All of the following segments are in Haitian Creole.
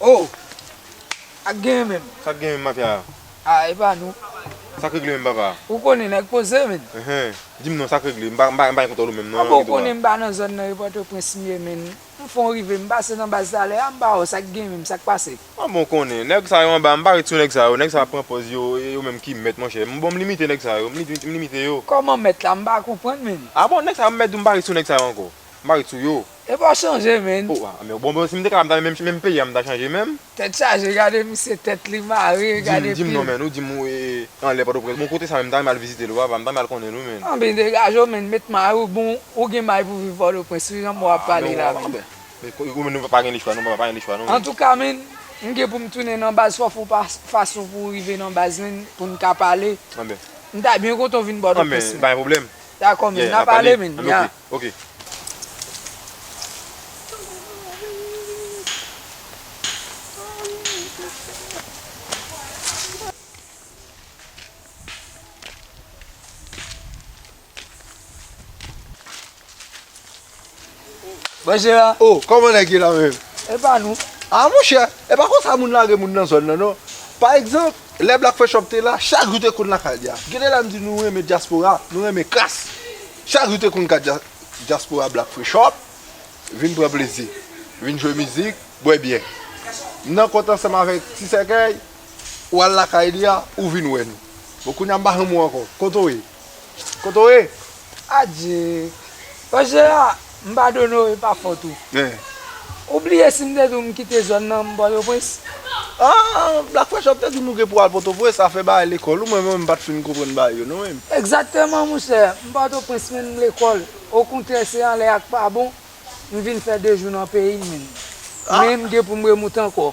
Oh! Sak genyen menm? Sak genyen menm mafya a? Ah e pa nou. Sak regle menm papa? Ou konnen nèg poze menn. Enhen, dim non sak regle? M pa gen kont avèw menm non nan ghetto a. Anben ou konnen m pa nan zòn nan e Pòtoprens m ye menn. M fon rive m pase nan baz talè a m ba wè w sak gen menm sak pase? An bon konnen nèg sa yo anba m pa ret sou nèg sa yo nèg sa yo ap pran pòz yo e yo menm ki mèt monchè m bon m limite nèg sa yo m limite yo. Kòman mèt la m pa konprann menn. A bon nèg sa yo m mèt di w m pa ret sou nèg sa yo ankò m pa ret sou yo. Epi w chanje menn. O a bon bon si m te ka m ta menm menm peyi a m ta chanje menm. Tèt chaje gade misye tèt li mare gade pil. Di m non menn ou di m ou e anlè pòtoprens bon kote sa menm m ta renmen al vizite l ou ava m ta renmen al konnen l wi menn. Anben degaje w menn met may ou bon ou gen may pou viv pòtoprens wi jan m wè w ap pale la menn. Antouka menn, m gen pou m tounen nan baz fò fon fason pou w rive nan baz menn pou n ka pale. M ta byen kontan w vin Pòtoprens menn. Dakò menn, n ap pale menn, ya. Bonjou a. Oh kòman nèg ye la menm? E pa nou. Ah monchè, e pa konsa moun lage moun nan zòn nan non. Pa egzanp, lè Black Frechoff te la, chak jou te konn lakay li a. Gen de lè m di nou renmen dyaspora, nou renmen kras. Chak jou te konn ka dyaspora Black Frechoff, vin pran plezi, vin jwe mizik, bwè byè. M nan kont ansanm avèk Ti Sèkèy, ou al lakay li a, ou vin wè nou. Bon kounye a m pa janm wè w ankò. Kote w ye? Kote w ye? Adye! Pase la, m pa do no e pa fot ou. Ou bliye si m te di w m kite zòn nan m Pòtoprens? Aa, Black Fresh wap te di m ou gen pou w al Pòtoprens, afè bagay lekòl ou menm m pa t fin konprann bagay yo non men. Egzakteman monchè, m Pòtoprens men m lekòl, okontrè se anlè ak pa bon, m vin fè 2 jou nan peyi m menm. Men m gen pou m remoute ankò.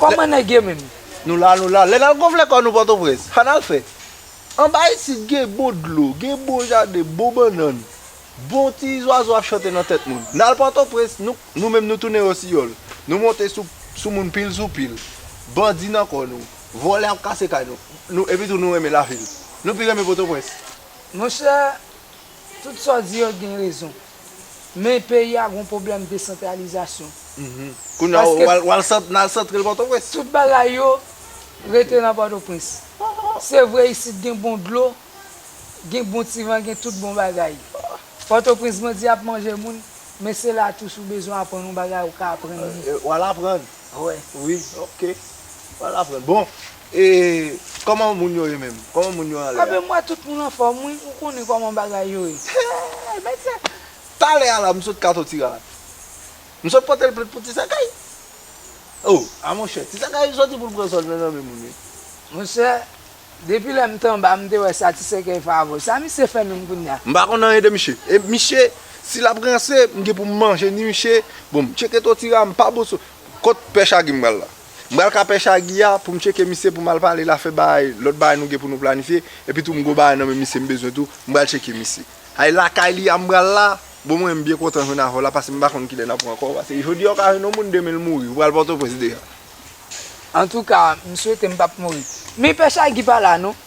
Kòman nèg ye menm? Nou la nou la, lè n al gonfle kò nou Pòtoprens, an n al fè? Anba isit gen bon dlo, gen bon jaden, bon bannann, bon ti zwazo ap chante nan tèt moun. N al Pòtoprens, nou, nou menm nou tounen rosiyòl. Nou monte sou, sou moun pil sou pil. Bandi nan kò nou. Vòlè ap kase kay nou. Nou, epitou nou renmen lavil. Nou pi renmen Pòtoprens. Monchè, Tout sa w di yo gen rezon. Men peyi a gon pwoblèm desantralizasyon. Kounya w al santre l Pòtoprens? Tout bagay yo rete nan Pòtoprens. Se vre isit gen bon dlo, gen bon ti van, gen tout bon bagay. Pòtoprens bandi ap manje moun, men se la tou si w bezwen aprann yon bagay ou ka aprann li. Ou al aprann? Wi. Ok. Ou al aprann. Bon. E kòman moun yo ye menm? Kòman moun yo anlè a? Anben m wè tout moun anfòm wi, ou konnen kòman bagay yo ye. Hey men se! Talè a la m sot kato ti rara. M sot pote l plent pou ti sakay. Oh! A monchè, ti sakay soti pou l pran sòl nan nanmen moun wi. Monchè, depi lè m te anba m te wè sa ti sekèy favò. Sa misye fè menm kounya? M pa konn anyen de miche. E miche, si l ap ranse, m gen pou m manje ni miche. Bon m tcheke to ti rara m pa bon sou. Kot pè chage m pral la? M pral ka pèch a Guy a pou m tcheke misye pou m al pale l afè bagay lòt bagay nou gen pou nou planifye epi tou m gwo bagay nan men misye m bezwen tou m pral tcheke misye ay lakay li a m pral la bon mwen m byen kontan jwenn avè w la pase m pa konn kilè n ap rankò pase jodi a w ka jwenn yon moun demen l mouri ou pral pòtoprens deja. Antouka m swete m pap mouri. Men pèch a Guy pa la non.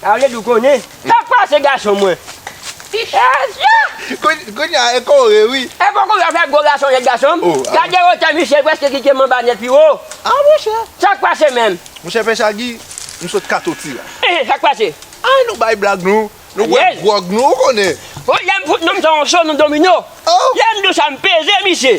Sa vle di w konnen sak pase gason mwen. Kounya e kore wi. E poko yo fè gwo gason nèt gason m. Gade wotè misye l preske kite m anba nèt pi wo. Ah monchè. Sak pase menm. Monchè pè Shaggy m sot katoti la. Ehe sak pase. Anh nou bay blag nou. Nou bwè gwòg nou ou konnen. Lè m fout nou m son cho nou domino. Lè m di w sa m peze misye.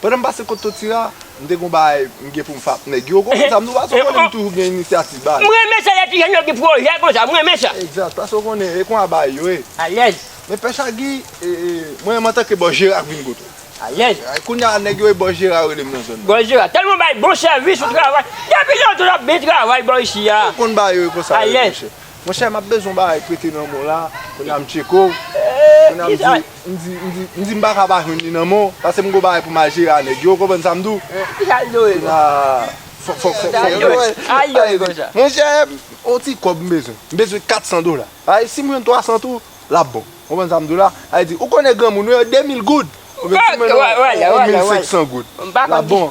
Pandan m pase kot Totira, m te gon bagay m gen pou m fè ak nèg yo. Konprann sa, m nou pa sou konnen m toujou gen inisyativ bagay. M renmen sa lè ti jèn yo gen pwojè konsa, m renmen sa. Egzat, paske ou konnen, e konsa bagay yo ye. Alèz. Men Pè Chagui, mwen menm antanke Bòs Jera k vin kote w. Alèz. Kounye a nèg yo e Bòs Jera yo rele m nan zòn nan. Bòs Jera, tèlman w bay bon sèvis, ou travay. Depi lontan w ap byen travay bò isi a. Ou konn bagay yo e konsa yo ye monchè. Alèz. Monchè map bezwen yon bagay prete nan menw la kounya m tcheko w kounya m di m di m di m di m paka pa jwenn li nan menw pase m gon bagay poum al jere a nèg yo ou konprann sa m diw kounya fòk fòk fòk fòk monchè yon ti kòb m bezwen m bezwen 400 dola ay sim jwenn 300 tou lap bon ou konprann sa m diw la ay di ou konnen granmoun wi 2000 goud ou konprann sa m diw la 1500 goud lap bon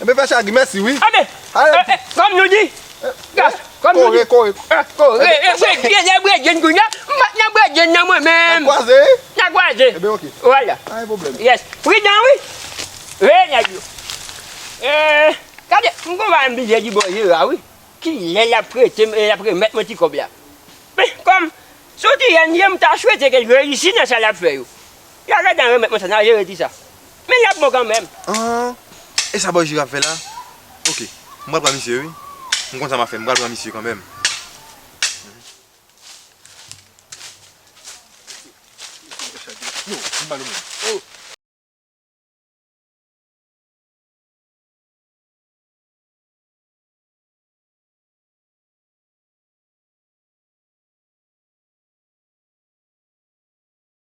Enben fè chage mèsi wi. Anben ee kòm nou di gas kòm nou di. Kore kore kore. Ee bredye lè bredye kounye a m pat nan bredye nan mwen menm. Nan kwaze. Nan kwaze. Enben ok. Wala. Pa gen pwoblèm. Yes pridan wi. Veye nèg yo. Ee gade m konn va enbije di bon Jera wi kilè lap prete m e lap remèt mwen ti kòb la. Men kòm son ti jèn m ta swete ke l reyisi nan sa lap fè yo. Y'a lè dan remèt mwen sa nan jere di sa Men yap bon kanmenm. Aah e sa bòy jiraf fè la ok m pral pran misye wi m konn sa map fè m pral pran misye kanmenm.